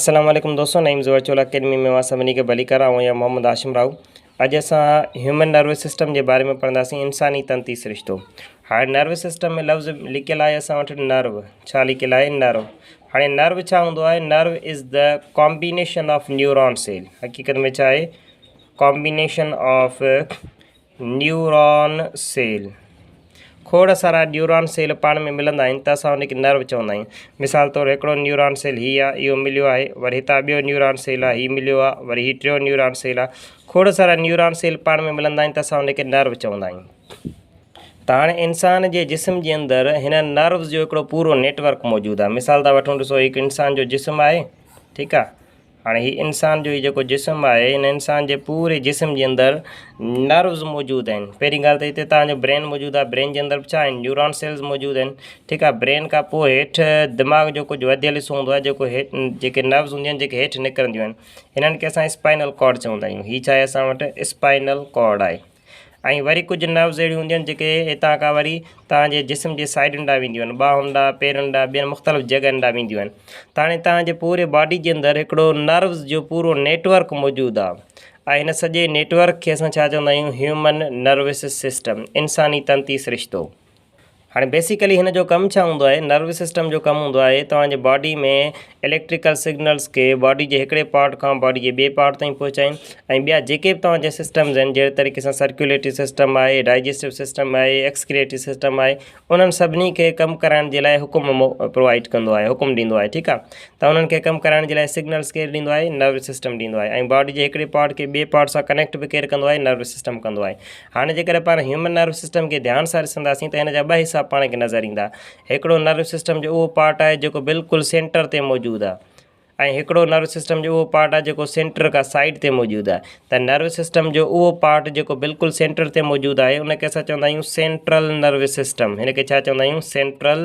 السلام عليڪم دوستو نعيم زو ورچوئل اڪيڊمي ۾ اوهان سڀني کي ڀليڪار آئون يا محمد هاشم راهو اڄ اسان هيومن نروس سسٽم جي باري ۾ پڙهنداسين انساني تنتي سرشتو هاڻي نروس سسٽم ۾ لفظ لکيل آهي اسان وٽ نرو ڇا لکيل آهي نرو هاڻي نرو ڇا هوندو آهي nerve is the combination of neuron cell حقيقت ۾ ڇا آهي ڪامبينيشن آف نيوران سيل، کوڙ سارا نيوران سيل پاڻ ۾ ملندا آهن ته اسان ان کي نرو چوندا آهيون. مثال طور هڪڙو نيوران سيل هي آ، اهو مليو آهي، وري هتان ٻيو نيوران سيل آ، هي مليو آ، وري هي ٽيون نيوران سيل آ. کوڙ سارا نيوران سيل پاڻ ۾ ملندا آهن ته اسان ان کي نرو چوندا آهيون. ته هاڻي انسان جي جسم جي اندر هنن نروز جو هڪڙو پورو نيٽ ورڪ موجود آ. مثال طور وٺون ڏسو هي هڪ انسان جو جسم آهي، ٺيڪ آ. هاڻي هي انسان جو هي جيڪو جسم آهي ان انسان جي پوري جسم جي اندر نروز موجود آهن پهرين ڳالهه ته هتي تهان جو برين موجود آهي برين جي اندر به ڇا آهن نيوران سيلز موجود آهن ٺيڪ آهي برين کان پوء هيٺ دماغ جو ڪجهه وڌيل حصو هوندو آهي جيڪو هيٺ جيڪي نروز هونديون آهن جيڪي هيٺ نڪرنديون آهن هنن کي اسان اسپائنل ڪارڊ چوندا آهيون هي ڇا آهي اسان وٽ اسپائنل ڪارڊ آهي ۽ وري ڪجهه نروز اهڙيون هونديون آهن جيڪي هتان کان وري توهان جي جسم جي سائيڊن ڏانهن وينديون آهن ٻانهن ڏانهن پيرن ڏانهن ٻين مختلف جڳهن ڏانهن وينديون آهن ته هاڻي توهان جي پوري باڊي جي اندر هڪڙو نروز جو پورو نيٽورڪ موجود آهي ۽ هن سڄي نيٽورڪ کي اسان ڇا چوندا آهيون هيومن نروس سسٽم انساني تنتي سرشتو هاڻي بيسيڪلي هن جو ڪم ڇا هوندو آهي نروس سسٽم جو ڪم هوندو آهي توهان جي باڊي ۾ اليڪٽريڪل سگنلز کي باڊي جي هڪڙي پارٽ کان باڊي جي ٻئي پارٽ تائين پهچائين ۽ ٻيا جيڪي به توهان جا سسٽمز آهن جهڙي طريقي سان سرڪيوليٽري سسٽم آهي ڊائجسٽو سسٽم آهي ايڪسڪريٽري سسٽم آهي انهن سڀني کي ڪم ڪرائڻ جي لاء حڪم پرووائيڊ ڪندو آهي حڪم ڏيندو آهي ٺيڪ آهي ته انهن کي ڪم ڪرائڻ جي لاء سگنلز ڪير ڏيندو آهي نروس سسٽم ڏيندو آهي ۽ باڊي جي هڪڙي پارٽ کي ٻئي پارٽ سان ڪنيڪٽ به ڪير ڪندو آهي نروس سسٽم ڪندو آهي هاڻي جيڪڏهن پاڻ هيومن نروس سسٽم کي ڌيان سان ڏسنداسين ته هن جا ٻه حصا پاڻ کي نظر ايندا. هڪڙو نروس سسٽم جو اهو پارٽ آهي جيڪو بلڪل سينٽر تي موجود آهي ۽ هڪڙو نروس سسٽم جو اهو پارٽ آهي جيڪو سينٽر کان سائيڊ تي موجود آهي ته نروس سسٽم جو اهو پارٽ جيڪو بلڪل سينٽر تي موجود آهي ان کي اسان چوندا آهيون سينٽرل نروس سسٽم هن کي ڇا چوندا آهيون سينٽرل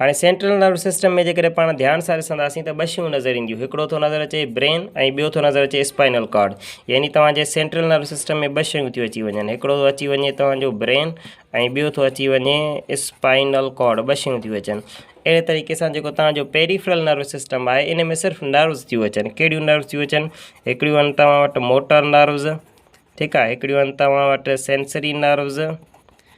هاڻي سينٽرل نروس سسٽم ۾ جيڪڏهن پاڻ ڌيان سان ڏسنداسين ته ٻه شيون نظر اينديون هڪڙو ٿو نظر اچي برين ۽ ٻيو ٿو نظر اچي اسپائنل ڪارڊ يعني توهان جي سينٽرل نروس سسٽم ۾ ٻه شيون ٿيون اچي وڃن هڪڙو ٿو اچي وڃي توهان جو برين ۽ ٻيو ٿو اچي وڃي اسپائنل ڪارڊ ٻه شيون ٿيون اچن اهڙي طريقي سان جيڪو توهان جو پيريفرل نروس سسٽم آهي ان ۾ صرف نروس ٿيون اچن کهڙيون نروس ٿيون اچن هڪڙيون آهن توهان وٽ موٽر نروس ٺيڪ آهي هڪڙيون آهن توهان وٽ سينسري نروس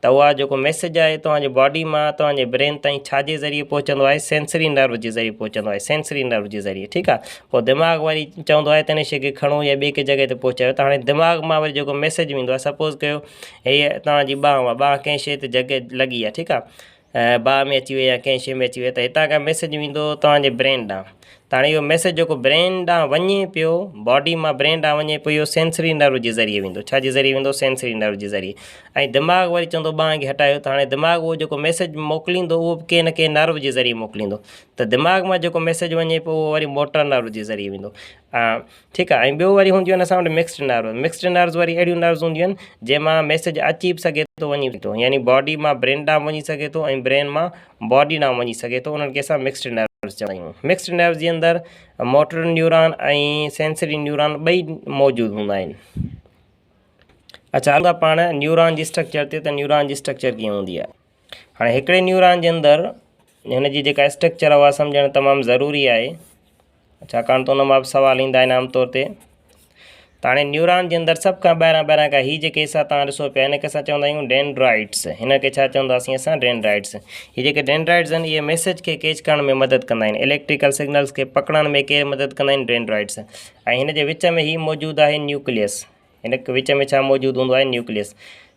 ته اها جيڪو ميسيج آهي توهان جي باڊي مان توهان جي برين تائين ڇا جي ذريعي پهچندو آهي سينسري نرو جي ذريعي پهچندو آهي سينسري نرو جي ذريعي ٺيڪ آهي پوء دماغ وري چوندو آهي ته هن شي کي کڻو يا ٻي ڪنهن جڳهه تي پهچايو ته هاڻي دماغ مان وري جيڪو ميسيج ويندو آهي سپوز ڪيو هيء توهان جي ٻانهه آهي ٻانهه ڪنهن شي تي جڳهه لڳي آهي ٺيڪ آهي باهه ۾ اچي وئي يا ڪنهن شيء ۾ اچي وئي ته هتان کان ميسيج ويندو توهان جي برين ڏانهن ته هاڻي اهو ميسيج جيڪو برين ڏانهن وڃي پيو باڊي مان برين ڏانهن وڃي پيو اهو سينسري نرو جي ذريعي ويندو ڇا جي ذريعي ويندو سينسري نرو جي ذريعي ۽ دماغ وري چوندو ٻانهن کي هٽايو ته هاڻي دماغ اهو جيڪو ميسيج موڪليندو اهو به ڪنهن نه ڪنهن نرو جي ذريعي موڪليندو ته دماغ مان جيڪو ميسيج وڃي پيو اهو وري موٽر نرو جي ذريعي ويندو ها ٺيڪ آهي ۽ ٻيو وري هونديون آهن اسان وٽ مڪسڊ نروس مڪسڊ نروس وري اهڙيون نروس هونديون آهن جنهن مان ميسج اچي به سگهي ٿو وڃي به ٿو يعني باڊي مان برين ڏانهن وڃي سگهي ٿو ۽ برين مان باڊي ڏانهن وڃي سگهي ٿو انهن کي اسان مڪسڊ نروس چوندا آهيون مڪسڊ نروس جي اندر موٽر نيوران ۽ سينسري نيوران ٻئي موجود هوندا آهن اچھا هلندا پاڻ نيوران جي اسٽرڪچر تي ته نيوران جي اسٽرڪچر ڪيئن هوندي آهي هاڻي هڪڙي نيوران جي اندر هن جي جيڪا اسٽرڪچر آهي اها سمجهڻ تمام ضروري آهي ڇاڪاڻ ته ان ماء به سوال ايندا آهن عام طور تي ته هاڻي نيوران جي اندر سڀ کان ٻاهران ٻاهران کان هي جيڪي حصا تان ڏسو پيا هن کي اسان چوندا آهيون ڊينڊرائيٽس هن کي ڇا چونداسين اسان ڊينڊرائيٽس هي جيڪي ڊينڊرائيٽس آهن اهي ميسج کي ڪيچ ڪرڻ ۾ مدد ڪندا آهن اليڪٽريڪل سگنلس کي پڪڙڻ ۾ ڪير مدد ڪندا آهن ڊينڊرائيٽس ۽ هن جي وچ ۾ هي موجود آهي نيوڪليس هن وچ ۾ ڇا موجود هوندو آهي نيوڪليس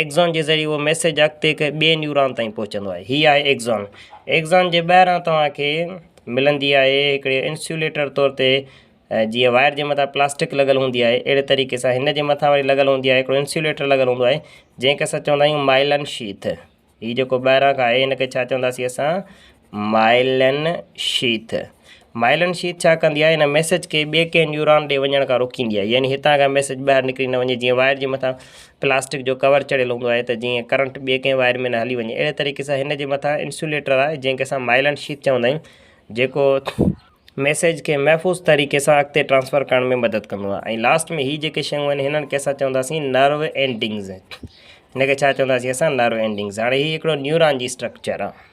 ايڪزان جي ذريعي اهو ميسيج اڳتي هڪ ٻئي نيوران تائين پهچندو آهي هي آهي ايڪزان ايڪزان جي ٻاهران توهان کي ملندي آهي هڪڙي انسيوليٽر طور تي جيئن وائر جي مٿان پلاسٽڪ لڳل هوندي آهي اهڙي طريقي سان هن جي مٿان وري لڳل هوندي آهي هڪڙو انسيوليٽر لڳل هوندو آهي جنهن کي اسان چوندا آهيون مائلن شيٿ هي جيڪو ٻاهران کان آهي هن کي ڇا چونداسين اسان مائلن شيٿ، مائلن شيٿ ڇا ڪندي آهي ان ميسيج کي ٻي ڪنهن نيوران ڏي وڃڻ کان روڪيندي آهي يعني هتان کان ميسيج ٻاهر نڪري نه وڃي جيئن وائر جي مٿان پلاسٽڪ جو ڪور چڙهيل هوندو آهي ته جيئن ڪرنٽ ٻي ڪنهن وائر ۾ نه هلي وڃي اهڙي طريقي سان هن جي مٿان انسوليٽر آهي جنهن کي اسان مائلن شيٿ چوندا آهيون جيڪو ميسيج کي محفوظ طريقي سان اڳتي ٽرانسفر ڪرڻ ۾ مدد ڪندو آهي ۽ لاسٽ ۾ هي جيڪي شيون آهن هنن کي اسان چونداسين نرو اينڊنگز هن کي ڇا چونداسين اسان نرو اينڊنگز هاڻي هي هڪڙو نيوران جي اسٽرڪچر آهي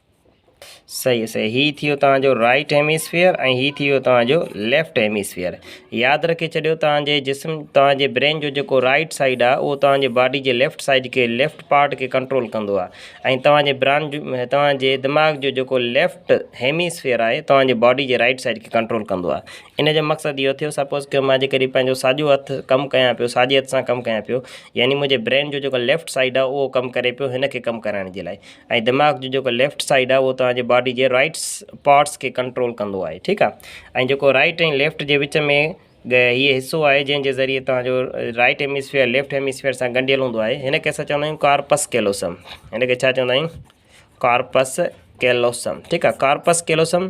صحيح صحيح هي ٿيو توهان جو رائٽ هيميسفيئر ۽ هي ٿيو توهان جو ليفٽ هيميسفيئر ياد رکي ڇڏيو توهان جي جسم توهان جي برين جو جيڪو رائٽ سائيڊ آ اهو توهان جي باڊي جي ليفٽ سائيڊ کي ليفٽ پارٽ کي ڪنٽرول ڪندو آ ۽ توهان جي بران جو توهان جي دماغ جو جيڪو ليفٽ هيميسفيئر آهي توهان جي باڊي جي رائٽ سائيڊ کي ڪنٽرول ڪندو آ ان جو مقصد اهو ٿيو سپوز ڪيو مان جي ڪري پنهنجو ساڄو هٿ ڪم ڪيان پيو ساڄي هٿ سان ڪم ڪيان پيو يعني منهنجي برين جو جيڪو ليفٽ سائيڊ آ اهو ڪم ڪري پيو هن کي ڪم ڪرائڻ جي لاء ۽ دماغ جو جيڪو ليفٽ سائيڊ آهي اهو توهان جي باڊي جي رائٽ پارٽس کي ڪنٽرول ڪندو آهي ٺيڪ آهي ۽ جيڪو رائٽ ۽ ليفٽ جي وچ ۾ هي حصو آهي جنهن جي ذريعي توهان جو رائٽ هيمسفيئر ليفٽ هيمسفيئر سان ڳنڍيل هوندو آهي هن کي اسان چوندا آهيون ڪارپس ڪيلوسم هن کي ڇا چوندا آهيون ڪارپس ڪيلوسم ٺيڪ آهي ڪارپس ڪيلوسم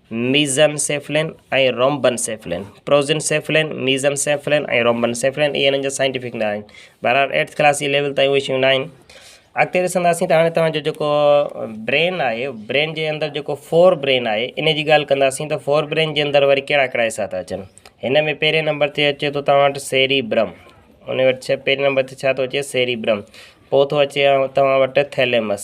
ميزنسيفلين ۽ رومبنسيفلين، پروزنسيفلين، ميزنسيفلين ۽ رومبنسيفلين اهي انهن جا سائنٽيفڪ نالا آهن. بهرحال ايٽٿ ڪلاس جي ليول تائين اهي شيون ناهن. اڳتي ڏسنداسين ته هاڻي توهان جو جيڪو برين آهي، برين جي اندر جيڪو فور برين آهي ان جي ڳالهه ڪنداسين ته فور برين جي اندر وري ڪهڙا ڪهڙا حصا ٿا اچن. هن ۾ پهرين نمبر تي اچي ٿو توهان وٽ سيري برم، ان وٽ پهرين نمبر تي ڇا ٿو اچي سيري برم، پوء ٿو اچي توهان وٽ ٿيليمس،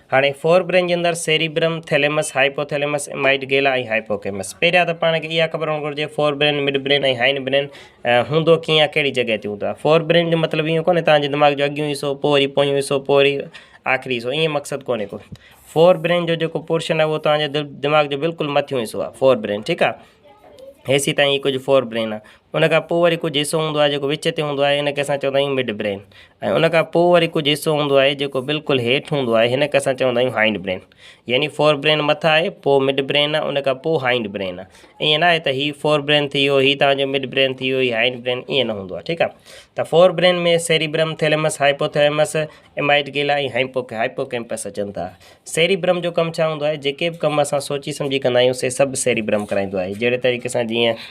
هاڻي فور برين جي اندر cerebrum, thalamus, hypothalamus, amygdala ۽ hippocampus. پهريان ته پاڻ کي اها خبر هئڻ گهرجي fore brain, mid brain ۽ hind brain هوندو ڪيئن آهي ڪهڙي جڳهه تي هوندو آهي. فور برين جو مطلب اهو ڪونهي توهان جي دماغ جو اڳيون حصو پوء وري پويون حصو پوء وري آخري حصو ائين مقصد ڪونهي ڪو. فور برين جو جيڪو پورشن آهي اهو توهان جي دماغ جو بلڪل مٿيون حصو آهي فور برين ٺيڪ آهي. هيسي تائين هي ڪجهه فور برين آهي. ان کان پوء وري ڪجهه حصو هوندو آهي جيڪو وچ تي هوندو آهي ان کي اسان چوندا آهيون مڊ برين ۽ ان کان پوء وري ڪجهه حصو هوندو آهي جيڪو بلڪل هيٺ هوندو آهي هن کي اسان چوندا آهيون هائنڊ برين يعني فور برين مٿ آهي پوء مڊ برين آهي ان کان پوء هائنڊ برين آهي ائين ناهي ته هي فور برين ٿي ويو هي تنهنجو مڊ برين ٿي ويو هي هائنڊ برين ائين نه هوندو آهي ٺيڪ آهي ته fore brain ۾ cerebrum thalamus hypothalamus amygdala ۽ hippo hippocampus اچن ٿا سيريبرم جو ڪم ڇا هوندو آهي جيڪي به ڪم اسان سوچي سمجهي ڪندا آهيون سي سڀ سيريبرم ڪرائيندو آهي جهڙي طريقي سان جيئن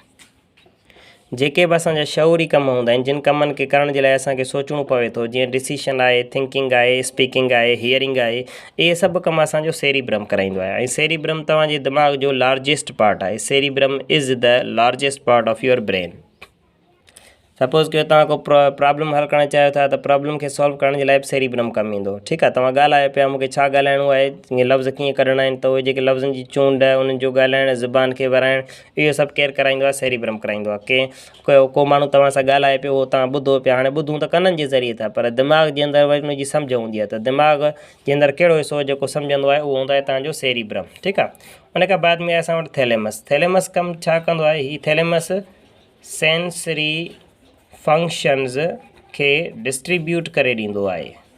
جيڪي به اسان جا شعوري ڪم هوندا آهن جن ڪمن کي ڪرڻ جي لاء اسان کي سوچڻو پوي ٿو جيئن ڊسيشن آهي ٿنڪنگ آهي اسپيڪنگ آهي هيئرنگ آهي اهي سڀ ڪم اسان جو سيري برم ڪرائيندو آهي ۽ سيري برم توهان جي دماغ جو لارجسٽ پارٽ آهي cerebrum is the largest part of your brain suppose ڪيو توهان کو پرابلم حل ڪرڻ چاهيو ٿا ته پرابلم کي سالو ڪرڻ جي لاء به سيري برم ڪم ايندو ٺيڪ آهي توهان ڳالهايو پيا مونکي ڇا ڳالهائڻو آهي لفظ ڪيئن ڪڍڻا آهن ته اهي جيڪي لفظن جي چونڊ انهن جو ڳالهائڻ زبان کي ورائڻ اهو سڀ ڪير ڪرائيندو آهي؟ سيري برهم ڪرائيندو آهي. ڪنهن ڪو ڪو ماڻهو توهان سان ڳالهائي پيو، اهو توهان ٻڌو پيا. هاڻي ٻڌون ته ڪنن جي ذريعي ٿا، پر دماغ جي اندر وري ان جي سمجهه هوندي آهي ته دماغ جي اندر ڪهڙو حصو جيڪو سمجهندو آهي، اهو هوندو آهي توهان جو سيري برهم. ٺيڪ آهي. ان کان بعد ۾ آهي اسان وٽ ٿيليمس. ٿيليمس ڪم ڇا ڪندو آهي؟ هي ٿيليمس سينسري فنڪشنز کي ڊسٽريبيوٽ ڪري ڏيندو آهي.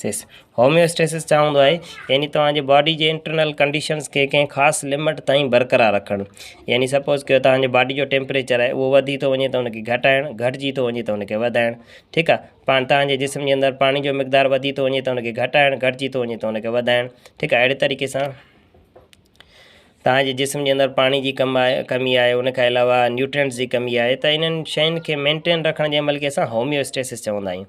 هوميوسٽيسس، Homeostasis، چا هوندو آهي، يعني توهان جي باڊي جي انٽرنل ڪنڊيشنز کي ڪنهن خاص لمٽ تائين برقرار رکڻ، يعني سپوز ڪيو توهان جي باڊي جو ٽيمپريچر آهي اهو وڌي ٿو وڃي ته ان کي گهٽائڻ، گهٽجي ٿو وڃي ته ان کي وڌائڻ، ٺيڪ آ، پاڻ توهان جي جسم جي اندر پاڻي جو مقدار وڌي ٿو وڃي ته ان کي گهٽائڻ، گهٽجي ٿو وڃي ته ان کي وڌائڻ، ٺيڪ آ، اهڙي طريقي سان توهان جي جسم جي اندر پاڻي جي ڪم آهي، ڪمي آهي، ان کان علاوه نيوٽرينٽس جي ڪمي آهي ته انهن شين کي مينٽين رکڻ جي عمل کي اسان هوميوسٽيسس چوندا آهيون.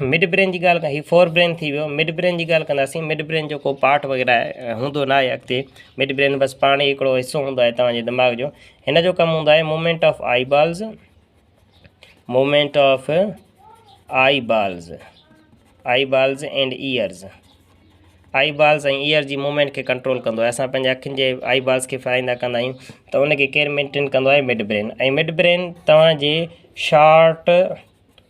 مڊ برين جي ڳالھ ڪيان ھي فور برين ٿي ويو مڊ برين جي ڳالھ ڪنداسين مڊ برين جو ڪو پارٽ وغيره ھوندو ناھي اڳتي مڊ برين بس پاڻ ھڪڙو حصو ھوندو آھي توھان جي دماغ جو ھن جو ڪم ھوندو آھي movement of eyeballs movement of eyeballs eyeballs and ears eyeballs ۽ ear جي موومينٽ کي ڪنٽرول ڪندو آهي اسان پنهنجي اکين جي آئي بالز کي ڦيرائيندا ڪندا آهيون ته ان کي ڪير مينٽين ڪندو آهي مڊ برين ۽ مڊ برين توهان جي شارٽ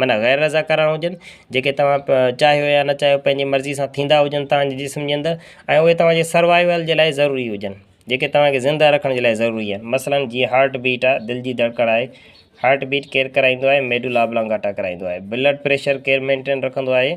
معنيٰ غير رضاڪاراڻا هجن جيڪي توهان چاهيو يا نه چاهيو پنهنجي مرضي سان ٿيندا هجن تهانجي جسم جي اندر ۽ اهي توهانجي سروائيول جي لاء ضروري هجن جيڪي توهانکي زنده رکڻ جي لاء ضروري آهن مثلاً جيئن هارٽ بيٽ آهي دل جي ڌڙڪڻ آهي هارٽ بيٽ ڪير ڪرائيندو آهي ميڊولا ابلانگاٽا ڪرائيندو آهي بلڊ پريشر ڪير مينٽين رکندو آهي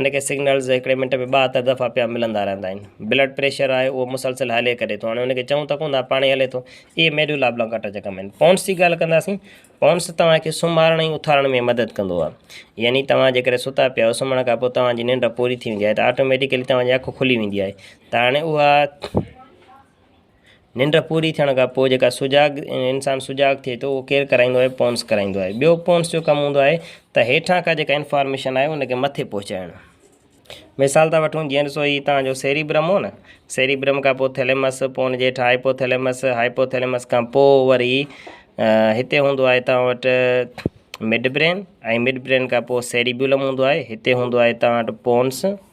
ان کي سگنلز هڪڙي منٽ ۾ ٻاهتر دفعا پيا ملندا رهندا آهن بلڊ پريشر آهي اهو مسلسل هلي ڪري ٿو هاڻي ان کي چئون ته ڪون ٿا پاڻهي هلي ٿو اهي ميڊولا ابلانگاٽا جا ڪم آهن پونس جي ڳالهه ڪنداسين پونس توهان کي سمهارڻ ۽ اٿارڻ ۾ مدد ڪندو آهي يعني توهان جيڪڏهن ستا پيا آهيو سمهڻ کان پوء توهان جي ننڊ پوري ٿي ويندي آهي ته آٽوميٽڪلي توهان جي اک کلي ويندي آهي ته هاڻي اها ننڊ پوري ٿيڻ کان پوء جيڪا سجاڳ انسان سجاڳ ٿئي ٿو اهو ڪير ڪرائيندو آهي پونس ڪرائيندو آهي ٻيو پونس جو ڪم هوندو آهي ته هيٺان کان جيڪا انفارميشن آهي ان کي مٿي پهچائڻ مثال ٿا وٺون جيئن ڏسو هي تان جو سيري برم هو نه سيري برم کان پوء ٿيليمس پوء ان جي هيٺ هائپو ٿيليمس هائپو ٿيليمس کان پوء وري هتي هوندو آهي تان وٽ مڊ برين ۽ مڊ برين کان پوء سيريبيولم هوندو آهي هتي هوندو آهي تان وٽ پونس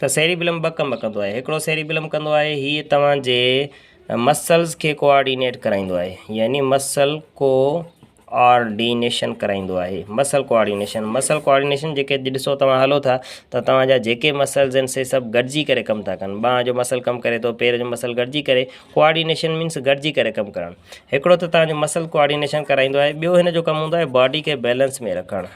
ته سيريبيلم ٻه ڪم ڪندو آهي. هڪڙو سيريبيلم ڪندو آهي هيء توهان جي مسلز کي ڪو آرڊينيٽ ڪرائيندو آهي يعني مسل ڪو آرڊينيشن ڪرائيندو آهي مسل ڪو آرڊينيشن مسل ڪو آرڊينيشن جيڪي اڄ ڏسو توهان هلو ٿا ته توهان جا جيڪي مسلز آهن سي سڀ گڏجي ڪري ڪم ٿا ڪن ٻانهن جو مسل ڪم ڪري ٿو پير جو مسل گڏجي ڪري ڪو آرڊينيشن مينس گڏجي ڪري ڪم ڪرڻ هڪڙو ته توهان جو مسل ڪو آرڊينيشن ڪرائيندو آهي ٻيو هن جو ڪم هوندو آهي باڊي کي بيلنس ۾ رکڻ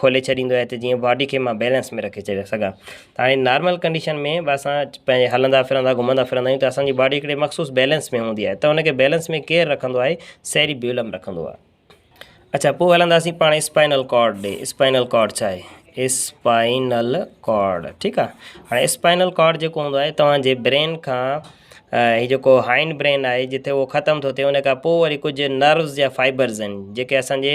کولي ڇڏيندو آهي ته جيئن باڊي کي مان بيلنس ۾ رکي ڇڏي سگهان ته هاڻي نارمل ڪنڊيشن ۾ به اسان پنهنجي هلندا ڦرندا گهمندا ڦرندا آهيون ته اسانجي باڊي هڪڙي مخصوص بيلنس ۾ هوندي آهي ته ان کي بيلنس ۾ ڪير رکندو آهي سيري بيولم رکندو آهي اڇا پوء هلنداسين پاڻ اسپائنل ڪارڊ ڏي اسپائنل ڪارڊ ڇا آهي اسپائنل ڪارڊ ٺيڪ آهي هاڻي اسپائنل ڪارڊ جيڪو هوندو آهي توهان جي برين کان هي جيڪو هائن برين آهي جتي اهو ختم ٿو ٿئي ان کان پوء وري ڪجهه نروز جا فائبرز آهن جيڪي اسانجي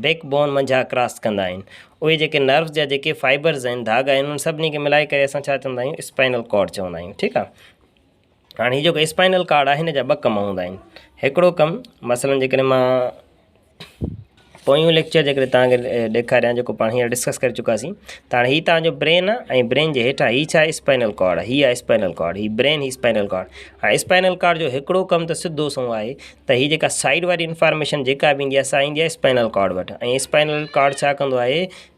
بيڪ بون منجها ڪراس ڪندا آهن اهي جيڪي نروز جا جيڪي فائبرز آهن ڌاڳا آهن ان سڀني کي ملائي ڪري اسان ڇا چوندا آهيون اسپائنل ڪارڊ چوندا آهيون ٺيڪ آهي هاڻي هي جيڪو اسپائنل ڪارڊ آهي هن جا ٻه ڪم هوندا آهن هڪڙو ڪم مثلا جيڪڏهن مان پويون ليڪچر جيڪڏهن تان کي ڏيکاريان جيڪو پاڻ هينئر ڊسڪس ڪري چڪاسين ته هاڻي هي تان جو برين آ ۽ برين جي هيٺان هي ڇا آهي اسپائنل ڪارڊ آ هي آ اسپائنل ڪارڊ هي برين هي اسپائنل ڪارڊ هاڻي اسپائنل ڪارڊ جو هڪڙو ڪم ته سڌو سنئون آهي ته هي جيڪا سائيڊ واري انفارميشن جيڪا به ايندي آهي سا ايندي آهي اسپائنل ڪارڊ وٽ ۽ اسپائنل ڪارڊ ڇا ڪندو آهي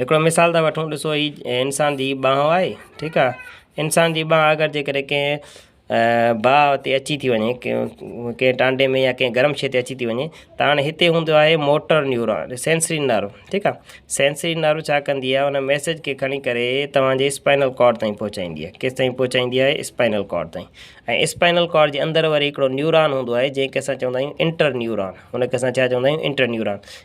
هڪڙو مثال ٿا وٺون ڏسو هي انسان جي ٻانهو آهي ٺيڪ آ انسان جي ٻانهه اگر جي ڪري ڪنهن باء تي اچي ٿي وڃي ڪنهن ٽانڊي ۾ يا ڪنهن گرم شي تي اچي ٿي وڃي ته هاڻي هتي هوندو آهي موٽر نيوران سينسري نرو ٺيڪ آ سينسري نرو ڇا ڪندي آهي ان ميسج کي کڻي ڪري توهان جي اسپائنل ڪارڊ تائين پهچائيندي آهي ڪيس تائين پهچائيندي آهي اسپائنل ڪارڊ تائين ۽ اسپائنل ڪارڊ جي اندر وري هڪڙو نيوران هوندو آهي جنهن کي اسان چوندا آهيون انٽر نيوران هن کي اسان ڇا چوندا آهيون انٽر نيوران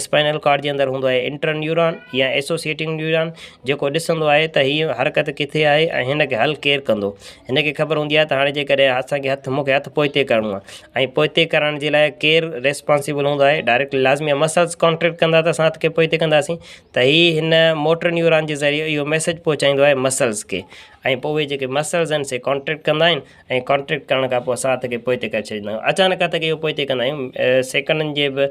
اسپائنل ڪارڊ جي اندر هوندو آهي انٽر نيوران يا ايسوسيئيٽنگ نيوران جيڪو ڏسندو آهي ته هيء حرڪت ڪٿي آهي ۽ هن کي حل ڪير ڪندو هن کي خبر هوندي آهي ته هاڻي جيڪڏهن اسان کي هٿ مونکي هٿ پوئتي ڪرڻو آهي ۽ پوئتي ڪرڻ جي لاء ڪير ريسپانسيبل هوندو آهي ڊائريڪٽلي لازمي آهي مسلس ڪانٽريڪٽ ڪندا ته اسان هٿ کي پوئتي ڪنداسين ته هي هن موٽر نيوران جي ذريعي اهو ميسيج پهچائيندو آهي مسلس کي ۽ پوء اهي جيڪي مسلس آهن سي ڪانٽريڪٽ ڪندا آهن ۽ ڪانٽريڪٽ ڪرڻ کان پوء اسان هٿ کي پوئتي ڪري ڇڏيندا آهيون اچانڪ هٿ کي اهو پوئتي ڪندا آهيون سيڪنڊن جي به